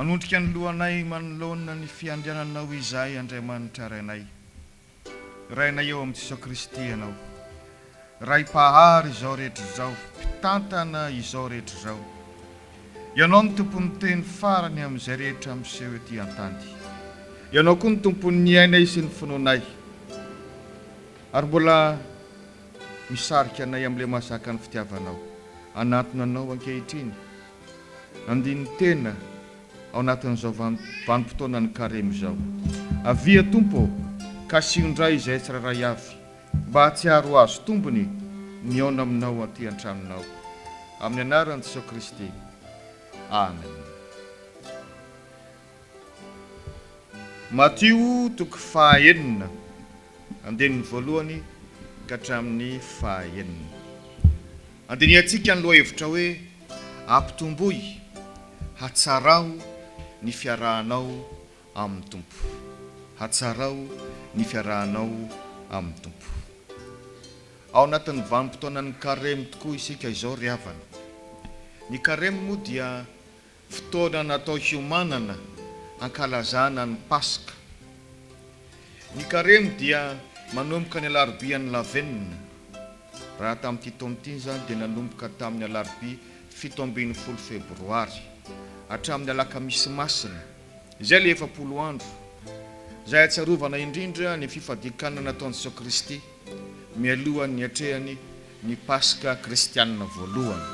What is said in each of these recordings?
Manondrika ny lohanay manoloana ny fiandriananao izahay Andriamanitra Rainay. Rainay ao amin'i Jesoa Kristy ianao. Ray Mpahary izao rehetra izao, Mpitantana izao rehetra izao. Ianao no Tompon'ny teny farany amin'izay rehetra miseho ety an-tany. Ianao koa no Tompon'ny ainay sy ny finoanay, ary mbola misarika anay amin'ilay mahazaka ny fitiavanao. Anantona anao ankehitriny, andinin-tena ao anatin'izao vanim-potoanan'ny Karemy izao. Avia Tompo ô, kasiho indray izahay tsirairay avy, Mba hahatsiaro ho azo tombony ny haona aminao aty an-tranonao. Amin'ny anaran'i Jesoa Kristy. Amen. Matio toko faha enina, andininy voalohany ka hatramin'ny faha enina. Andinihantsika ny lohahevitra hoe Ampitomboy hatsarao ny fiarahanao amin'ny Tompo. Hatsarao ny fiarahanao amin'ny Tompo. Ao anatin'ny vanim-potoanan'ny Karemy tokoa isika izao ry havana. Ny Karemy moa dia fotoana natao hiomanana hankalazana ny Paska. Ny Karemy dia manomboka ny alarobian'ny lavenona. Raha tamin'ity taona ity izany dia nanomboka tamin'ny alarobia fito ambin'ny folo febroary hatramin'ny alakamisy masina. Izay ilay efapolo andro, izay ahatsiarovana indrindra ny fifadian-kanina nataon'i Jesoa Kristy mialohan'ny niatrehany ny Paska kristianina voalohany.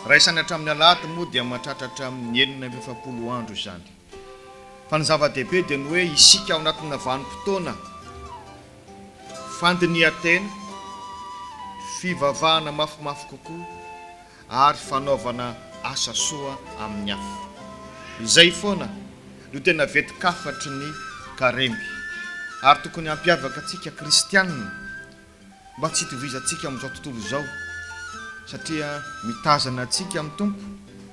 Raisany hatramin'ny alahady moa dia mahatratra hatramin'ny enina amby efapolo andro izany. Fa ny zava-dehibe dia ny hoe isika ao anatina vanim-potoana fandinihan-tena, fivavahana mafimafy kokoa, ary fanaovana asa soa amin'ny hafa. Izay foana no tena vetin-kafatry ny Karemy ary tokony hampiavaka antsika kristianina mba tsy hitovizantsika amin'izao tontolo izao satria mitazana antsika amin'ny Tompo,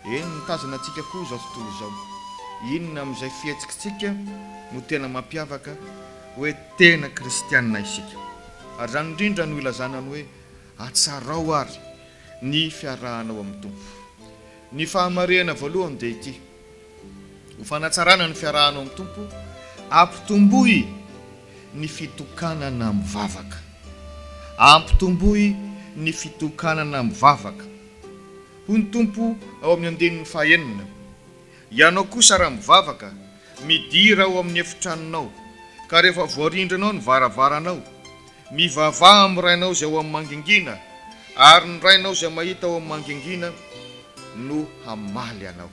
eny mitazana antsika koa izao tontolo izao. Inona amin'izay fihetsikitsika no tena mampiavaka hoe tena kristianina isika? Ary izany indrindra no ilazana ny hoe Atsarao àry ny fiarahanao amin'ny Tompo. Ny fahamarehana voalohany dia ity, Ho fanatsarana ny fiarahanao amin'ny Tompo, ampitomboy ny fitokanana mivavaka. Ampitomboy ny fitokanana mivavaka. Hoy ny Tompo ao amin'ny andininy fahenina, Ianao kosa raha mivavaka, midira ao amin'ny efitranonao, ka rehefa voarindranao ny varavaranao, Mivavaha amin'ny Rainao izay ao amin'ny mangingina, ary ny Rainao izay mahita ao amin'ny mangingina no hamaly anao.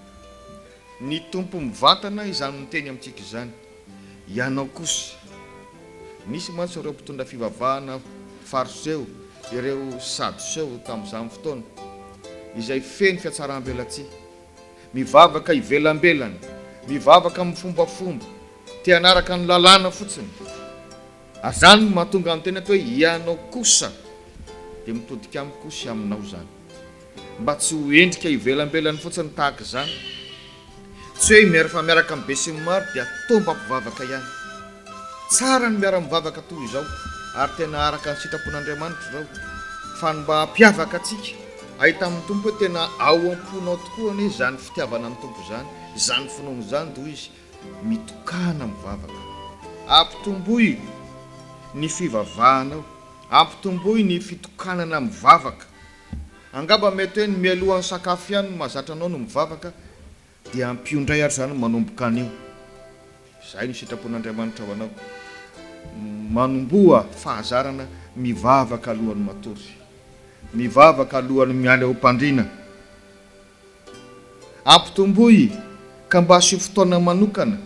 Ny Tompo mivantana izany miteny amintsika izany. Ianao kosa. Nisy mantsy ireo mpitondra fivavahana Fariseo, ireo Sadoseo tamin'izany fotoana, izay feno fiatsaram-belatsihy. Mivavaka ivelambelany, mivavaka amin'ny fombafomba, te-hanaraka ny lalàna fotsiny. Ary izany no mahatonga ny tenako hoe ianao kosa dia mitodika amiko sy aminao izany. Mba tsy ho endrika ivelambelany fotsiny tahaka izany. Tsy hoe miara fa miaraka amin'ny besinimaro dia toa mba mpivavaka ihany. Tsara ny miara-mivavaka toa izao ary tena araka ny sitrapon'Andriamanitra izao fa ny mba hampiavaka antsika hahita amin'ny Tompo hoe tena ao am-ponao tokoa anie izany fitiavana ny Tompo izany, izany finoana izany toa izy Mitokana mivavaka. Ampitomboy ny fivavahanao. Ampitomboy ny fitokanana mivavaka. Angamba mety hoe ny mialoha ny sakafo ihany no mahazatra anao ny mivavaka, dia ampio indray ary izany manomboka anio. Izay no sitrapon'Andriamanitra ho anao. Manomboha fahazarana mivavaka alohan'ny matory. Mivavaka alohan'ny miala eo am-pandriana. Ampitomboy ka mba asio fotoana manokana,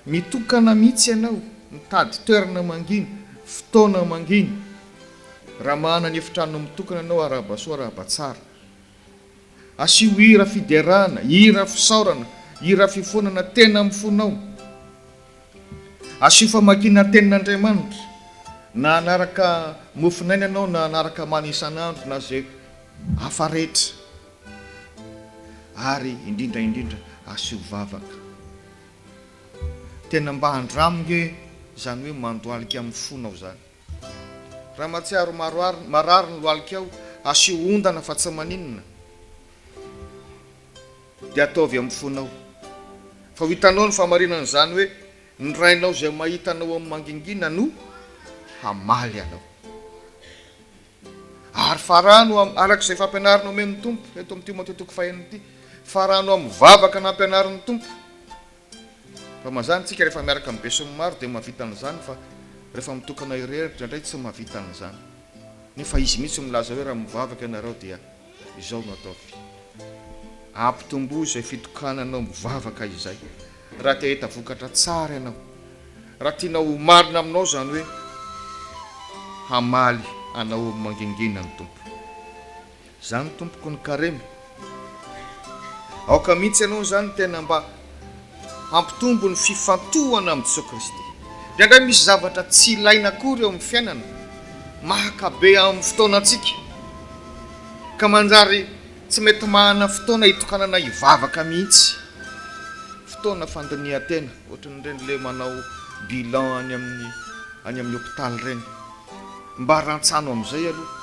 mitokana mihitsy ianao, mitady toerana mangina, fotoana mangina. Raha manana efitrano mitokana ianao arahaba soa arahaba tsara. Asio hira fiderana, hira fisaorana, hira fifonana tena amin'ny fonao. Asio famakiana tenin'Andriamanitra, na hanaraka mofonaina ianao na hanaraka mana isan'andro na izay hafa rehetra. ary indrindra indrindra asio vavaka tena mba andramo nge zany hoe mandohalika amin'ny fonao zany raha matsiaro maroary marary ny lohalikao asio ondana fa tsy maninona de ataovy amin'ny fonao fa ho hitanao ny famarinan'izany hoe ny rainao izay mahita anao amin'ny mangingina no hamaly anao Ary farano am, araka izay fampianarana omen'ny Tompo eto amin'ity matoantoko fahenina ity, farano amin'ny vavaka nampianarin'ny Tompo. Raha mazàna isika rehefa miaraka amin'ny besinimaro dia mahavita an'izany fa rehefa mitokana irery indraindray tsy mahavita an'izany. Nefa Izy mihitsy no milaza hoe raha mivavaka ianareo dia. Izao no ataovy, ampitomboy izay fitokananao mivavaka izay raha te hahita vokatra tsara ianao, raha tianao ho marina aminao izany hoe hamaly anao amin'ny mangingina ny Tompo. Izany tompoko ny Karemy. Aoka mihitsy ianao izany tena mba Hampitombo ny fifantohana amin'i Jesoa Kristy. Indraindray misy zavatra tsy ilaina akory eo amin'ny fiainana, mahakabe amin'ny fotoanantsika, ka manjary tsy mety manana fotoana hitokanana hivavaka mihitsy. Fotoana fandinihan-tena, ohatran'ireny ilay manao bilan any amin'ny any amin'ny hopitaly ireny. Mba rantsano amin'izay aloha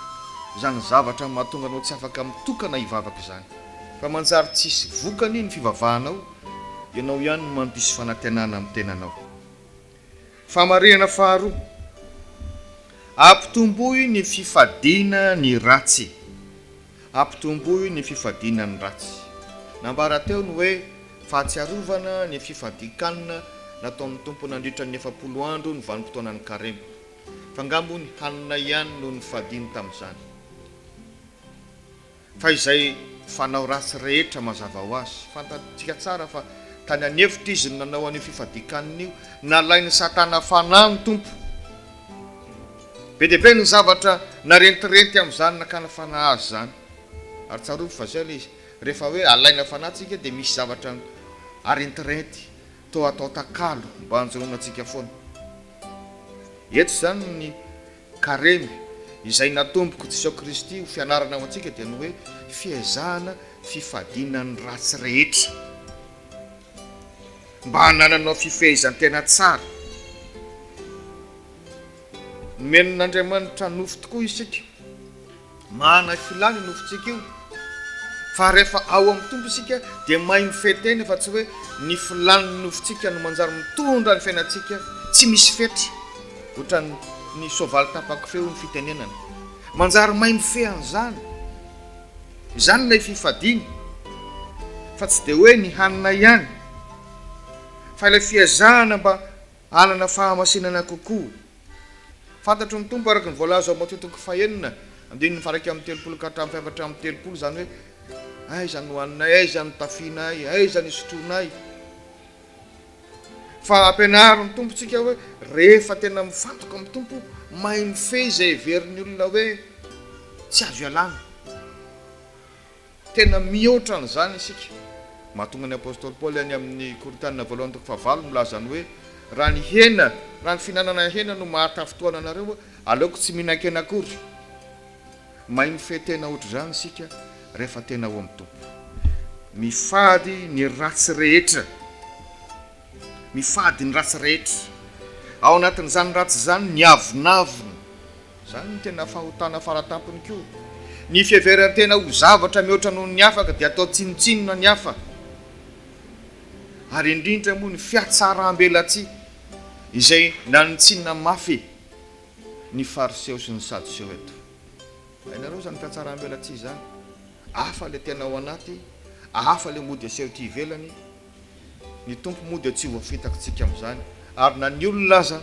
izany zavatra mahatonga anao tsy afaka mitokana hivavaka izany. Fa manjary tsy hisy vokany ny fivavahanao, ianao ihany no mandiso fanantenana amin'ny tenanao. Famarinana faharoa, Ampitomboy ny fifadiana ny ratsy. Ampitomboy ny fifadiana ny ratsy. Nambara teo ny hoe fahatsiarovana ny fifadian-kanina nataon'ny Tompo nandritra ny efapolo andro ny vanim-potoanan'ny Karemy. F'angamba hono hanina ihany no nifadiany tamin'izany. Fa izay fanao ratsy rehetra mazava ho azy. Fantatsika tsara fa tany an'efitra izy no nanao an'io fifadikanina io. Nalain'i Satana fanahy ny Tompo. Be dia be ny zavatra narentirenty amin'izany nakana fanahy azy izany. Ary tsarovy fa izay ilay izy, rehefa hoe alaina fanahy tsika dia misy zavatra arentirenty toa atao takalo mba hanjonoana antsika foana. Eto izany ny. Karemy, Izay natomboko Jisaoy Kristy ho fianarana ho antsika dia ny hoe fiezahana fifadiana ny ratsy rehetra mba hanananao fifehezan-tena tsara. Nomen'Andriamanitra nofo tokoa isika. Manana filàna io nofontsika io, fa rehefa ao amin'ny Tompo isika dia mahay mifehy tena fa tsy hoe ny filàn'ny nofontsika no manjary mitondra ny fiainantsika tsy misy fetry ohatran'ny soavaly tapa-kofehy hoy ny fitenenana. Manjary mahay mifehy an'izany. Izany ilay fifadiana fa tsy dia hoe ny hanina ihany fa ilay fiezahana mba hanana fahamasinana kokoa. Fantatry ny Tompo araka ny voalaza ao amin'ny Maotintiko fahenina, andininy faharaika amby telopolo ka hatramin'ny fahefatra amby telopolo, izany hoe, Aiza no hohaninay? Aiza no hitafianay? Aiza no hisotroanay? Fa ampianarin'ny Tompo antsika hoe, rehefa tena mifantoka amin'ny Tompo, mahay mifehy izay heverin'ny olona hoe tsy azo ialana. Tena mihoatra an'izany isika. Mahatonga ny apostoly Paoly any amin'ny Korintiana voalohany toko fahavalo milaza ny hoe, Raha ny hena, raha ny fihinanana hena no mahatafintohana anareo, aleoko tsy mihinan-kena akory. Mahay mifehy tena hoatr'izany isika rehefa tena ao amin'ny Tompo. Mifady ny ratsy rehetra. Mifady ny ratsy rehetra. Ao anatin'izany ratsy izany ny avonavona. Izany no tena fahotana faratampony koa. Ny fiheveran-tena ho zavatra mihoatra noho ny afaka dia atao tsinontsinona ny hafa, ary indrindra moa ny fiatsarambelatsihy izay nanintsinina mafy ny Fariseo sy ny Sadoseo eto. Hainareo izany fiatsarambelatsihy izany, hafa ilay tena ao anaty, hafa ilay mody aseho ety ivelany. Ny Tompo moa dia tsy voafitakitsika amin'izany, ary na ny olona aza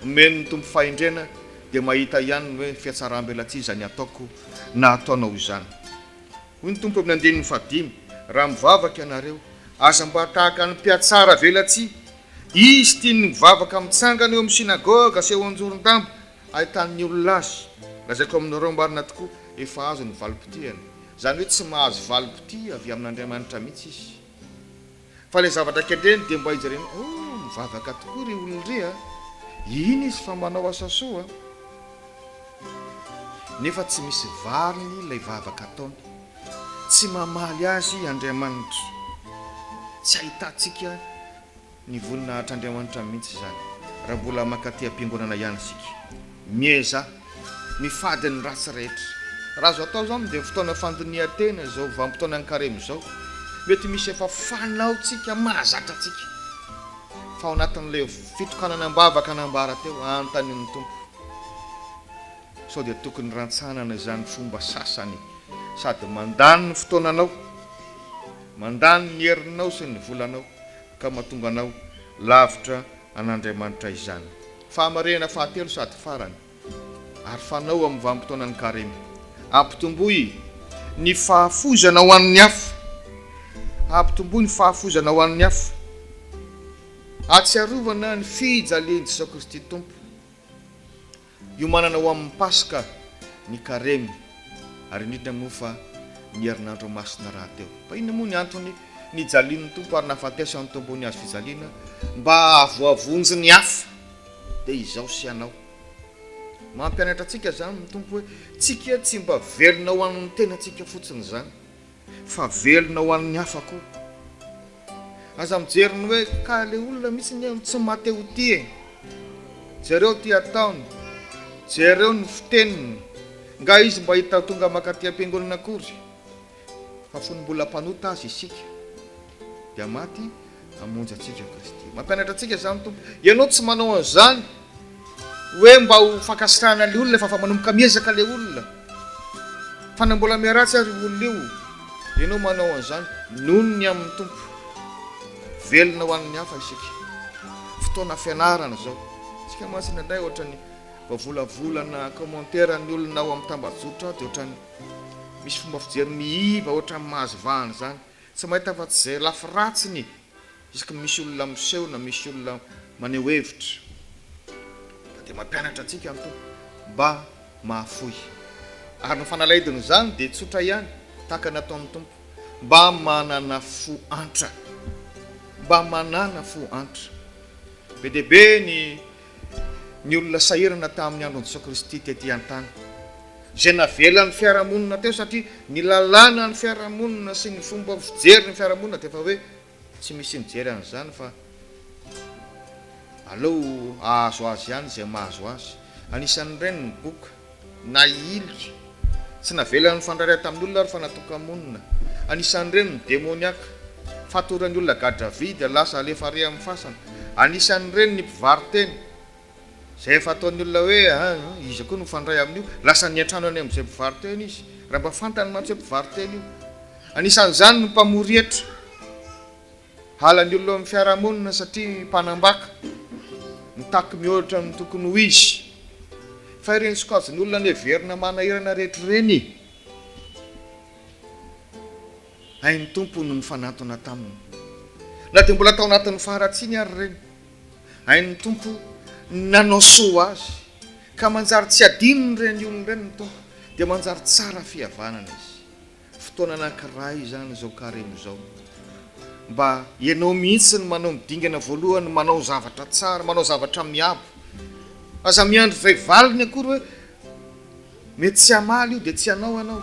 omeny ny Tompo fahendrena dia mahita ihany ny hoe fihatsaram-belatsihy izany ataoko na ataonao izany. Hoy ny Tompo amin'ny andininy fahadimy, Raha mivavaka ianareo, aza mba tahaka ny mpihatsara velatsihy. Izy tiany ny mivavaka mitsangana eo amin'ny synagoga sy eo an-joron-damba ahitan'ny olona azy. Lazaiko aminareo marina tokoa, efa azony ny valim-potiany. Izany hoe tsy mahazo valim-potia avy amin'Andriamanitra mihitsy izy. Fa ilay zavatra kendreny dia mba hijerena hoe oh, mivavaka tokoa ry olona ry a! Hihina izy fa manao asa soa a! Nefa tsy misy valiny ilay vavaka ataony. Tsy mamaly azy Andriamanitra. Tsy ahitantsika. Ny voninahitr' Andriamanitra mihitsy izany raha mbola mankaty am-piangonana ihany isika. Miezaha mifady ny ratsy rehetra. Raha azo atao izao mandeha fotoana fandinihan-tena izao vanim-potoanan'ny karemy izao, mety misy efa fanaontsika mahazatra antsika. Fa ao anatin'ilay fitokanana am-bavaka nambara teo, anontanian'ny Tompo sao dia tokony rantsanana izany fomba sasany sady mandany ny fotoananao, mandany ny herinao sy ny volanao. ka mahatonga anao lavitra an'Andriamanitra izany. Fahamarinana fahatelo sady farany ary fanao amin'ny vanim-potoanan'ny Karemy, Ampitomboy ny fahafoizana ho an'ny hafa. Ampitomboy ny fahafoizana ho an'ny hafa. Ahatsiarovana ny fijalian'i Jesoa Kristy Tompo. Hiomanana ho amin'ny Paska ny Karemy, ary indrindra moa fa ny herinandro masina rahateo. Fa inona moa ny antony nijalian'ny Tompo ary nahafatesany tompo ny hazofijaliana mba hahavoavonjy ny hafa, dia izaho sy ianao? Mampianatra antsika izany ny Tompo hoe tsy kia tsy mba velona ho an'ny tenantsika fotsiny izany, Fa velona ho an'ny hafa koa. Aza mijery ny hoe ka le olona mitsy anie no tsy mate ho tia e! Jereo ty ataony, jereo ny fiteniny, nga izy mba hita tonga makaty ampiangonana akory? Fa fony mbola mpanota aza isika dia maty Hamonjy antsika Kristy. Mampianatra antsika izany ny Tompo. Ianao tsy manao an'izany hoe mba ho fankasitrahana ilay olona fa fa manomboka miezaka ilay olona. Fa na mbola miharatsy ary io olona io, ianao manao an'izany noho ny amin'ny Tompo. Velona ho an'ny hafa isika. Fotoana fianarana izao. Isika mantsy indraindray ohatran'ny vao volavolana commentaire ny olona ao amin'ny tambajotra dia ohatran'ny misy fomba fijery miiva ohatran'ny mahazo vahana izany. Tsy mahita afa tsy izay lafy ratsiny isaky ny misy olona miseho na misy olona maneho hevitra. Fa dia mampianatra antsika ny Tompo mba mahafoy. Ary ny fanalahidin' izany dia tsotra ihany, tahaka ny ataon' ny Tompo, Mba manana fo antra. Mba manana fo antra. Be dia be ny. Ny olona sahirana tamin'ny andron'i Jesoa Kristy tetỳ an-tany, izay navelan'ny fiarahamonina teo satria ny lalànan'ny fiarahamonina sy ny fomba fijery ny fiarahamonina dia efa hoe tsy misy mijery an'izany fa aleo hahazo azy ihany izay mahazo azy. Anisan'ireny ny boky. na hihiloka. Tsy navelany nifandray tamin' olona ary fa natoka-monina. Anisan' ireny ny demoniaka, fatoran' olona gadra vy dia lasa alefa àry amin' ny fasana. Anisan' ireny ny mpivaro-tena, izay efa ataon' ny olona hoe, Aa, iza koa no mifandray amin' io? Lasa niantrano any amin' izay mpivaro-tena izy, raha mba fantany mantsy hoe mpivaro-tena io. Anisan' izany ny mpamory hetra. Halan'ny olona eo amin'ny fiarahamonina satria mpanambaka, mitaky mihoatra amin'ny tokony ho izy. Fa ireny sokajin'olona neverina manahirana rehetra ireny, hain'ny Tompo no nifanantona taminy. Na dia mbola tao anatin'ny faharatsiany ary ireny, hain'ny Tompo ny nanao soa azy, ka manjary tsy hadinon'ireny olona ireny ny Tompo, dia manjary tsara fihavanana izy. Fotoana anankiray izany izao carême izao. Mba ianao mihitsy no manao ny dingana voalohany, manao zavatra tsara, manao zavatra miabo. Aza miandry izay valiny akory hoe mety tsy hamaly io dia tsy hanao ianao.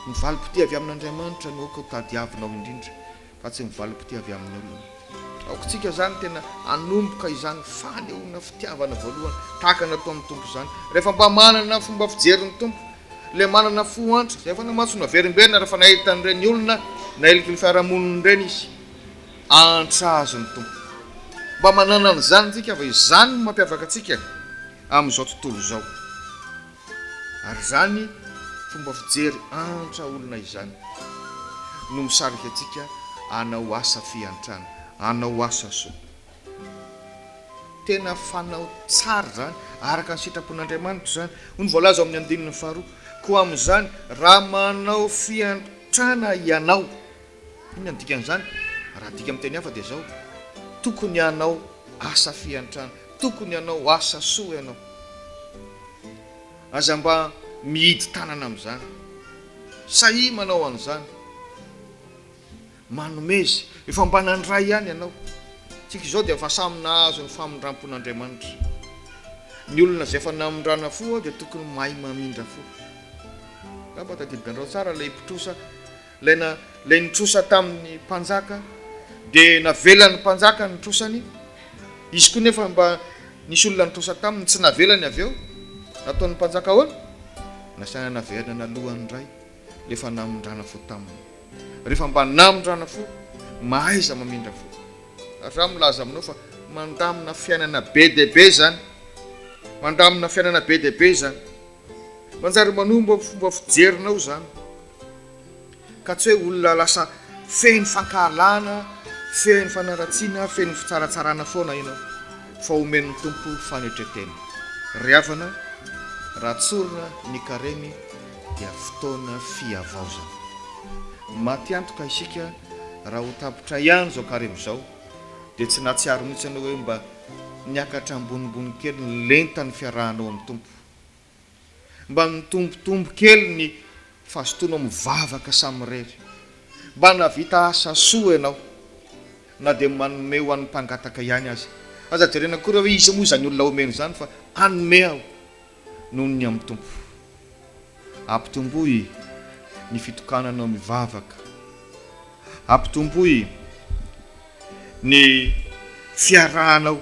Ny valim-potoa avy amin'Andriamanitra no aoka hotadiavinao indrindra. fa tsy ny valim-pitia avy amin'ny olona. Aokantsika izany tena hanomboka izany fanehoana fitiavana voalohany tahaka ny ataon'ny Tompo izany, rehefa mba manana fomba fijery ny Tompo, ilay manana fo antra, izay efa namaso naverimberina rehefa nahita an'ireny olona nailiky ny fiarahamoniny ireny izy. Antra azy ny Tompo. Mba manana an'izany isika fa izany no mampiavaka antsika amin'izao tontolo izao. Ary izany fomba fijery antra olona izany no misarika antsika hanao asa fiantrana, hanao asa soa. Tena fanao tsara izany, araka ny sitrapon'Andriamanitra izany. Hoy ny voalaza ao amin'ny andininy faharoa, Koa amin'izany, raha manao fiantrana ianao, Inona no dikan'izany? Raha adika amin'ny teny hafa dia izao, tokony hanao asa fiantrana, tokony hanao asa soa ianao. Aza mba mihidy tanana amin'izany. Sahia manao an'izany. Manomeza. Efa mba nandray ihany ianao. Isika izao dia efa samy nahazo ny famindram-pon'Andriamanitra. Ny olona izay efa namindrana fo dia tokony mahay mamindra fo. Angamba tadidinareo tsara ilay mpitrosa. Ilay na, ilay nitrosa tamin'ny mpanjaka, dia navelan'ny mpanjaka ny nitrosany, izy koa nefa mba nisy olona nitrosa taminy, tsy navelany avy eo, nataon'ny mpanjaka ahoana? Nasaina navelanana alohan'ny iray, ilay efa namindrana fo taminy. Rehefa mba namindrana fo, mahaiza mamindra fo. Ary izaho milaza aminao fa mandamina fiainana be dia be izany, mandamina fiainana be dia be izany. Manjary manombo amin'ny fomba fijerinao izany, ka tsy hoe olona lasa feno fankahalana, feno fanaratsiana, feno fitsaratsarana foana ianao, fa omen'ny Tompo fanetren-tena. Ry havana, raha tsorina ny Karemy dia fotoana fihavaozana. Matiantoka isika raha ho tapitra ihany izao Karemy izao, dia tsy nahatsiaro mihitsy ianao hoe mba niakatra ambonimbony kely ny lentan'ny fiarahanao amin'ny Tompo. Mba nitombotombo kely ny fazotoanao mivavaka samirery. Mba nahavita asa soa ianao, na dia manome ho an'ny mpangataka ihany aza. Aza jerena akory hoe iza moa izany olona omena izany fa hanome aho noho ny amin'ny Tompo. Ampitomboy ny fitokananao mivavaka. Ampitomboy ny fiarahanao